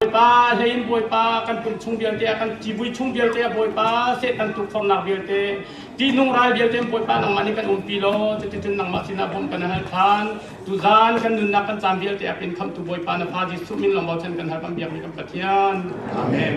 Bawipa hlei in Bawipa kan pum chung vialte ah kan civui chung vialte ah Bawipa Satan tukforhnak vialte tihnung ral vialte Bawipa nangmah nih kan umpi law cuticun nangmah sinah bawmh kan hal than tuzan kan nunnak kan caan vialte ah kan khamhtu Bawipa na Fa Jesuh min lawng bochan kan hal kan biakmi kan Pathian Amen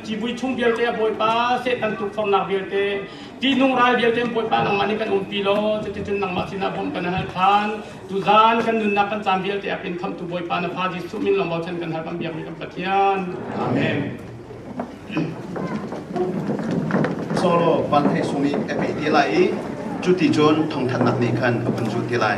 civui chung vialte a bawipa setan tukforhnak vialte tihnung ral vialte bawipa nangmah nih kan umpi law cuticun nangmah sinah bawmh kan hal than tuzan kan nunnak kan caan vialte a pin khamtu bawipa na fa Jesuh min lawng bochan kan hal kan biak mi kan Pathian amen solo van hei sung i epe ti lai i cuti cun thongthannak nih khan a phun zul ti lai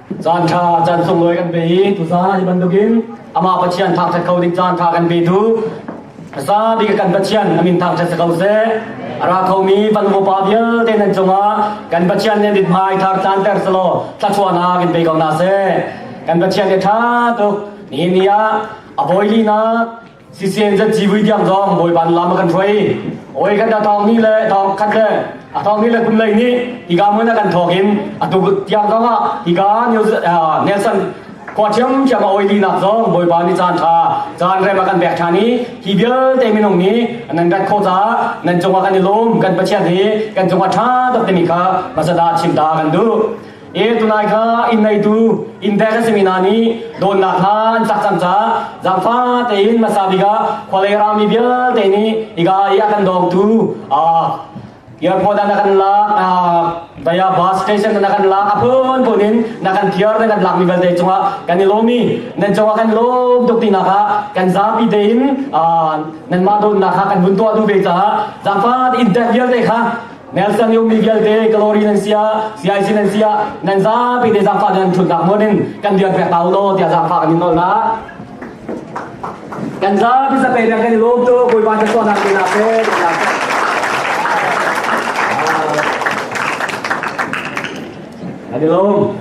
caan ṭha caan sunglawi kan pe i tuzan hi bantukin amah Pathian thangṭhat kho ding caan ṭha kan pe tu zabi kan Pathian amin thangṭhat ko seh ara khomi van upa vialte nan cungah kan Pathian nih dit mai thar caan ter selo thlachuana kan pe ko na se kan Pathian nih ṭha tuk ni ni ah a bawilinak sisen zat ci vui tiang zong bawi ban lam kan hruai oi kan thong ni le thong khat le a thong ni le kun lei ni iga mun kan thong in a tu tiang zong ah iga nelson khwa chiam chiam oi ti nak zong bawi ban ni chan tha chan re ma kan bek tha ni hi bialte minung ni nan rat kho ta nan chunga kan i lum kan pachiat hi kan chunga tha tak te mi kha masada chim ta kan du Ee, tunai kha inn neitu inntek an simi hna nih dawtnak kha an cak cang caah zaangfa tein hmasa bik ah khualei rami vialte nih iga i a kan dawngtu airport ah na kan lak via bus station na kan lak a phun phun in na kan thiar na kan lak mi vialte cungah kan i lawm i nan cungah kan lawm tuk tinak ah kan zapi tein nanmah dawtnak kha kan vun tuah duh ve caah zaangfa inntek vialte kha Nelson Yo Miguel te Glory nan sia CIC nan sia nan za pe te zangfa nan thun tak mo nin kan diar pek ta lo tia zangfa kan in nol na kan za bi sa pe tak kan lom to koi ba ta so na ke na pe na ani lom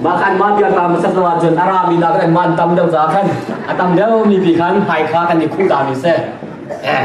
makan man biar ta masat lo jun ara mi da kan man tam deuh za kan atam deuh mi pi khan hai kha kan ni khu da mi se eh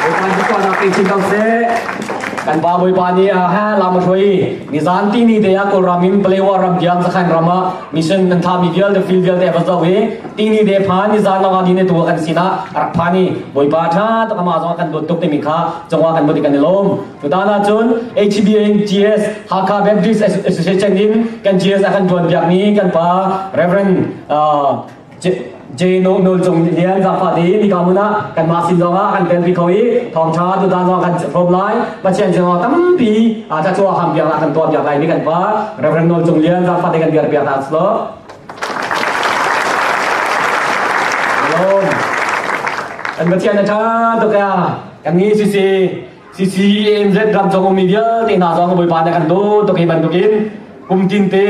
Bawipa ni pa nak ting sin tang se kan ba bawipa ni a ha lam hroi ni zan ti ni te a kol ram in palewa ram diam sakhan rama mission kan tha mi vial de fil vial te ba zo hi ti ni de pha ni zan nga ni ne tu kan sina rak pha ni bawipa tha ta kama zong kan bod tuk te mi kha changwa kan bodi kan lom tu ta na chun HBNGS Hakha Baptist Association in kan GS akan tuan biak ni kan pa Reverend Jeno Nul Cung Lian Zafa Ti mi kamun ah kan mah sin zong ah kan pen pi kho i thawng tha tu dan zong kan rom lai Pathian sin zong tampi a ta chuah ham biak la kan tuah biak lai mi kan pa Reverend Nul Cung Lian Zafa Ti kan biar biak na slow Shalom An Pathian tha tu ka kan ni si si CCAMZ ram chong mi vialte na zong boi pa na kan do to ke ban to kin kum tin te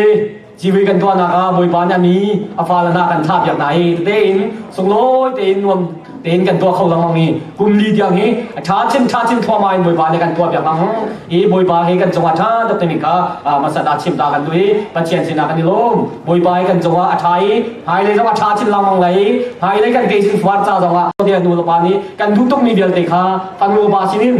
Civi kan tuahnak ah Bawipa nih a mi a fale hna kan thlah piak hna hi tein sunglawi tein nuam tein kan tuah kho lengmang mi kum li tiang hi a tha chin tha chin thluahmah in Bawipa nih kan tuah piak ngang i Bawipa hi kan cungah tha dok timi kha masat ah chim ta kan duh i Pathian sinah kan i lawm Bawipa hi kan cungah a tha i hmailei zong a tha chin lengmang lei hmailei kan ke chin fuar ca zongah nu le pa nih kan duh tuk mi vialte kha fanu pa sinin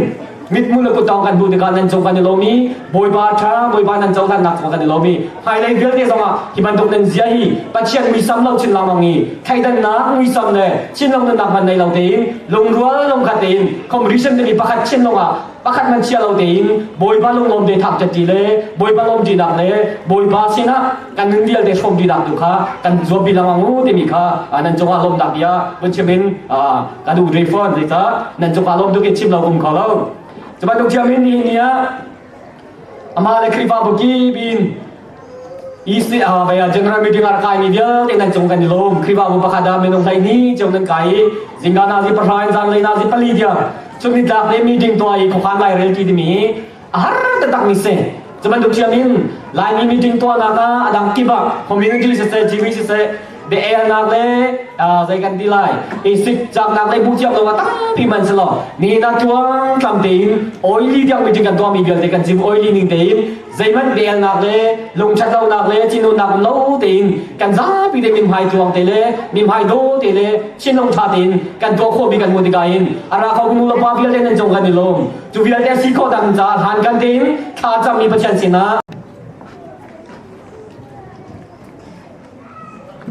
mithmuh le kutdong kan hmuh tikah nan cung kan i lawm i bawipa ṭha bawipa nan cohlannak cung kan i lawm i hmailei vialte zongah hi bantuk nan zia hi pathian muisam lo chin lawmang i theidannak muisam le chin lawmhnak man nei lo tein lungrual lungkhat tein competition timi pakhat chin lawngah pakhat man chia lo tein bawipa lunglawm te thak ṭetti le bawipa lawm ṭinak le bawipa sinah kan ning vialte hrawm dih nak tu kha kan zuam pi lang ang timi kha nan cungah lawm tak bia vun chiam in kan u dre fon zei ta nan cungah lawm tuk in chim lo kum kho lo cuba tuk chiam in ni ni a ama le khrifa buki bin East ni ah baya general meeting ar kai ni vial te nan chung kan lom khrifa bu pakhada menong lai ni cheu nan kai zinga na zi parhain zan lai na zi pali dia chung ni dak le meeting to ai ko khan lai rel ti mi a har takmi si cubantuk thiam in laimi meeting tuahnak ah a dang kip ah community siseh tv siseh biaelnak le zei kan ti lai i sik caknak le bu thiam dawngah tampi man si lo ni na tuang tlam tein oily tiang meeting kan tuahmi vialte kan chim oily ning tein zeiman biaelnak le lungthatlonak le chinunnak no tein kan zapi te mimhai tuang te le mimhai do te le chinlung tha tein kan tuah khawmi kan hmu tika in ara kho kunu la pa vialte nan jong kan ni lom Cu vialte si khawh dang ca hlan kan tin thla cangmi Pathian sinah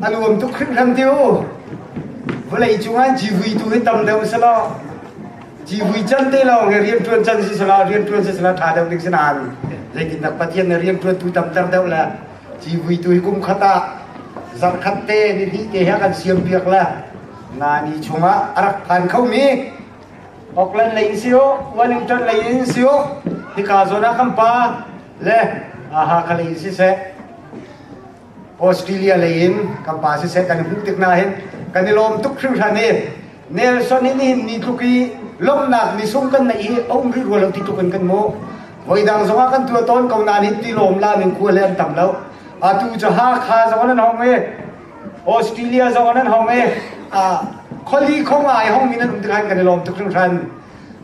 a nuam tuk hrimhram tiu vawlei cung an civui tu hi tam deuh si lo civui can te lawng hi rian tuan can si sala rian tuan si sala tha deuh dik sinan leitin nak pathian ne rian tuan tu tam ter deuh le civui tu hi kum khat ah zan khat te ni hnih te ha kan siam biak le na ni chungah a rak phan kho mi Auckland lei in si uh, Wellington lei in si uh, hika zawn ah kan pa le Hakha lei in si seh Australia lei in kan pa si seh kan hmuh tik na hin kan i lawm tuk hringhran i Nelson in hin ni tluk i lomnak ni sung kan nei hi aum rih rua lo ti tluk in kan mu voidang zong ah kan tua tawn ko na nin ti lawm la ning kua le an tam lo atu cu Hakha zong an hong i Australia zong nan hong e khuali khong ai hong mi nan um tikhan kan i lawm tuk hringhran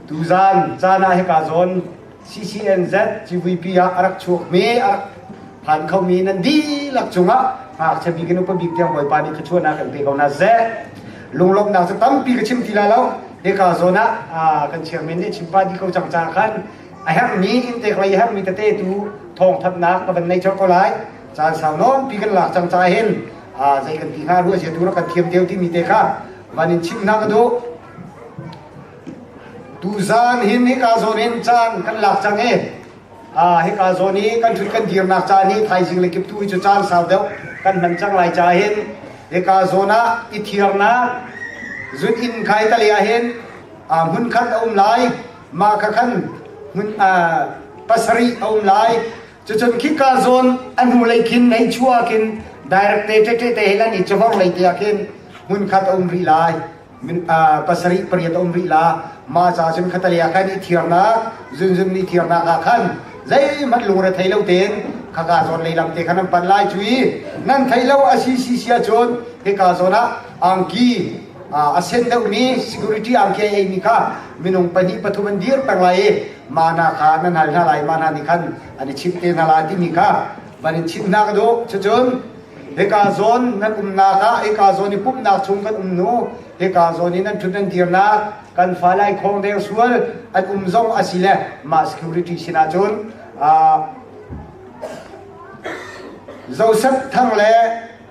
tu zan zan ah hika zawn CCNZ CVP ah arak chuak mi arak phan kho mi nan dihlak cungah ngakchia bik in upa bik tiang bawipa nih khuachuahnak kan pe ko na ze lunglawmhnak cu tampi ka chim ti la lo hika zawn ah kan chiang men nih chimpa di ko cang ca khan a herh mi intek lei a herh mi tete tu thawng thatnak ka van nei chawt ko lai caan sau lawmpi kan lak cang caah hin zei kan ti hnga ruah zia tu rak kan thiam deuh timi te kha van in chim hna ka duh tuzan hin hika zawn in caan kan lak cang i hika zawn i kan thut kan dirnak caan hi thaizing le kip tu hi cu caan sau deuh kan hman cang lai ca hin hika zawn ah i thiarnak zut in khai tali ah hin hmun khat a um lai mah kha khan hmun pasarih a um lai Cucun khika zawn an hnu lei khin nei chuah kin direct te te te te helan i cavor lei te ah khin hmun khat a um rih lai pasarih pariat a um rih la ma ca cun khatalia khan i thiarnak zunzun ni thiarnak ah khan zeihmanh lungre thei lo ten khaka zawn lei lam te khan an pan lai cu i nan thei lo a si si sia cun hika zawn ah angki a sen deuhmi security angki ei mi kha minung pahnih pathum an dir peng lai i ma hna kha nan hal hna lai ma hna nih khan an i chimh te hna lai timi kha van in chimhnak ka duh cucun hika zawn nan umnak ah hika zawn i pumhnak chung kan um nu hika zawn i nan ṭhut nan dirnak kan fa lai khawng deng sual an um zong a si le mah security sinah cun Joseph thang le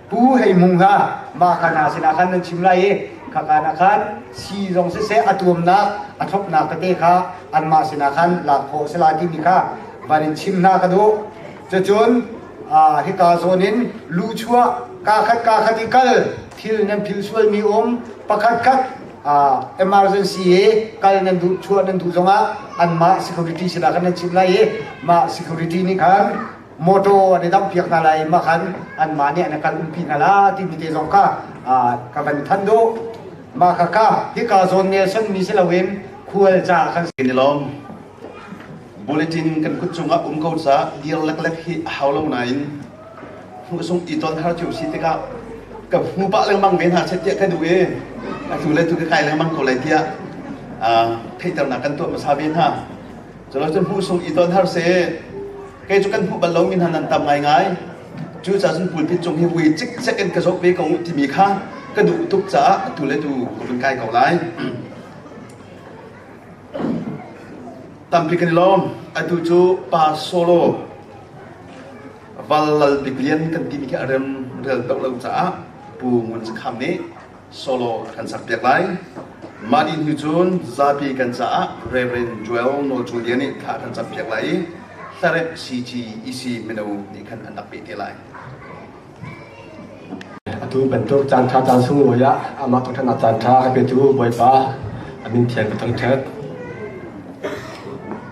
Pu hei mung hna, mah ka hna sinah khan nan chim lai i khaka na khan si zong siseh a tuamnak a thlopnak tete kha anmah sinah khan lak khawh a si lai timi kha van in chim hna ka duh. Cucun hika zawn in lu chuah ka khat ka khat i kal thil nan phil sualmi um pakhat khat emergency i kal nan duh chuah nan duh zongah anmah security sinah khan nan chim lai i mah security nih khan motor an i dampiak hna lai mah khan anmah nih an kal umpi hna la timi te zong kha ka van than do mah kha ka hika zawn ne sonmi si loin khual ca kan kan i lawm bulletin kan kut cungah um ko ca dir leklek hi a hau lo nain hnu sung i ton har cu si tikah ka hmu pah lengmang ve hna set tiah ka duh i atu le tu ka kai lengmang ko lai tiah theihternak kan tuah hmasa ve hna Cun cun hmuh sung i ton har seh. Kei cu kan hmuh bal lomi hna nan tam ngaingai. Cucaah cun pulpit cung hi vui cikcek in ka zoh ve ko u timi kha ka duh tuk caah atu le tu ka vun kai ko lai. Tampi kan i lawm. Atu cu pa solo val lal bik lian kan timi khi a rem rel deuh lo caah Pu Ngun Sakham nih solo a kan sakpiak lai. Mah ni hnu cun zapi kan caah Reverend Joel Nawl Cu Lian nih thla kan campiak lai i hlarep CGEC mino nih khan an rak peh te lai. Atu bantuk caanṭha caan sunglawi ah amah thawhṭhannak caanṭha a petu Bawipa a min thiang ka thangṭhat.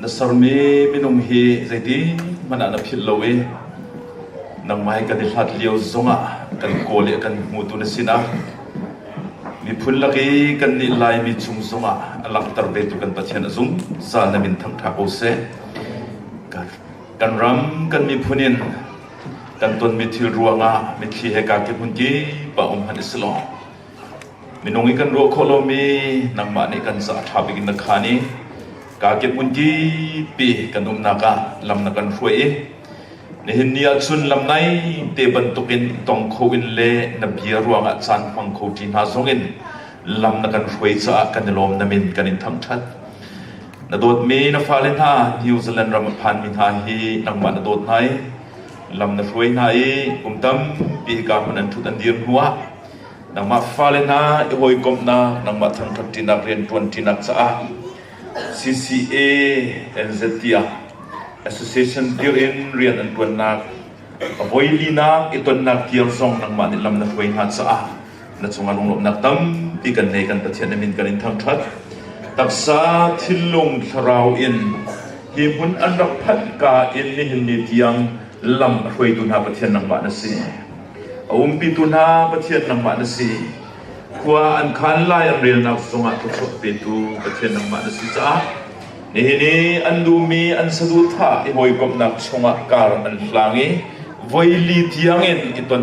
Na sermi minung hi zeitikhmanh ah na philh lo i nangmah hi kan i hlat lio zongah kan kawl i kan hmutu na sinah miphun lak i kannih Laimi chung zongah a langhter vetu kan Pathian a zungzal na min thangṭha ko seh. Kan ram, kan miphun in kan tonmi thil ruangah mitthli he kaa kehmun kipa um han i si law Minung i kan ruah khawh lomi nangmah nih kan ca a ṭha bik in na khaan i kaa kephun tipi kan umnak ah lam na kan hruai i nihin ni ahcun lam nai te bantukin tong kho in le na bia ruangah caan hmang kho ṭi hna zongin lam na kan hruai caah kan i lawm namin kan in thangṭhat. Na dawtmi na fale hna New Zealand ram a phanmi hna hi nangmah na dawt hna i lam na hruai hna i kum tampi ka hmun an ṭhut an dir hnuah Nangmah fale hna i hawikomhnak, nangmah thangṭhatṭinak, rianṭuanṭinak caah CCA NZT ah Association dir in rian an ṭuannak a voilinak i tonnak dir zong nangmah nih lam na hruai hna caah na cungah lunglawmhnak tampi kan nei kan Pathian min kan in thangṭhat taksa thinlung thlarau in hi hmun an rak phanh ka in nihin ni tiang lam a hruaitu hna Pathian nangmah na si A umpitu hna Pathian nangmah na si. Khua an khan lai an relnak zongah thluachuah petu Pathian nangmah na si caah nihin i an duhmi an saduhthah i hawikomhnak chungah kar an hlang i voi li tiangin i ton